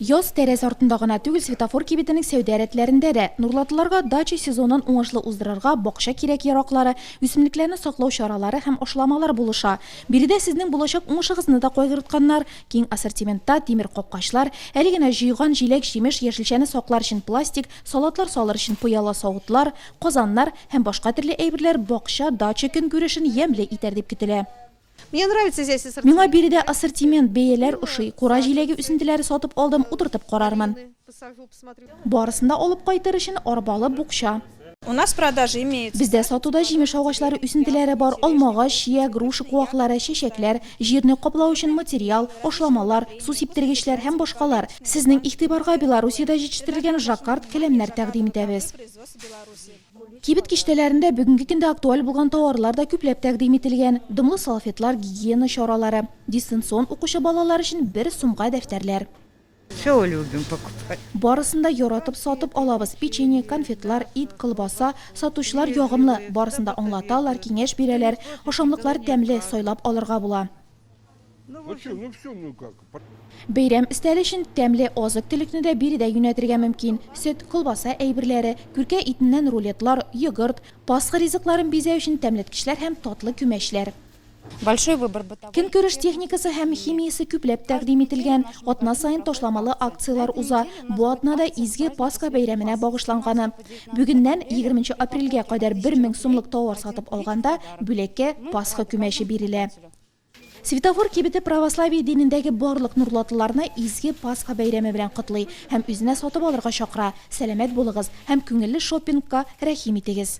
Яз тәрәз артында гына түгел, Светофор кибетенең сәүдә рәтләрендә дә. Нурлатлыларга дача сезонын уңышлы уздырырга бакча кирәк-яраклары, үсемлекләрне саклау чаралары һәм ашламалар булыша. Биредә сезнең булачак уңышыгызны да кайгыртканнар. Киң ассортиментта, тимер капкачлар, әле генә җыйган җиләк-җимеш, яшелчәне саклар өчен пластик, салатлар салыр өчен пыяла савытлар, казаннар һәм башка төрле әйберләр бакча, дача көнкүрешен ямьле итәр дип көтелә. Мне нравится здесь ассортимент. Миңа биредә ассортимент, бәяләр ошый. Кура җиләге үсентеләре сатып алдым, утыртып карармын. Барысын да алып кайтыр өчен арбалы букча. У нас продажи имеются. Бездә сатуда җимеш агачлары үсентеләре бар, алмагач, чия, груша куаклары, чәчәкләр, җирне каплау өчен материал, ашламалар, су сиптергечләр һәм башкалар. Сезнең игътибарга Белоруссиядә җитештерелгән жаккард келәмнәр тәкъдим итәбез. Кибет киштәләрендә бүгенге көндә актуаль булган тауарлар да күпләп тәкъдим ителгән, дымлы салфетлар, гигиена чаралары, дистанцион укучы балалар өчен бер сумга дәфтәрләр. Все любим покупать. Барысын да яратып сатып алабыз, печенье, конфетлар, ит, колбаса. Сатучылар ягымлы, барысын да аңлаталар, киңәш бирәләр. Ашамлыклар тәмле, сайлап алырга була. Бәйрәм өстәле өчен тәмле азык-төлекне дә биредә юнәтергә мөмкин. Сөт, колбаса әйберләре, күркә итеннән рулетлар, йогырт, Пасха ризыкларын бизәү өчен тәмләткечләр һәм татлы күмәчләр. Көнкүреш техникасы һәм химиясе күпләп тәкъдим ителгән. Атна саен ташламалы акцияләр уза. Бу атна да Изге Пасха бәйрәменә багышланганы. Бүгеннән, егерме нче апрельгә кадәр бер мең сумлык тауар сатып алганда, бүләккә Пасха күмәче бирелә. Светофор кибете православие динендәге барлык нурлатлыларны изге Пасха бәйрәме белән котлый һәм үзенә сатып алырга чакыра. Сәламәт булыгыз һәм күңелле шоппингка рәхим итегез!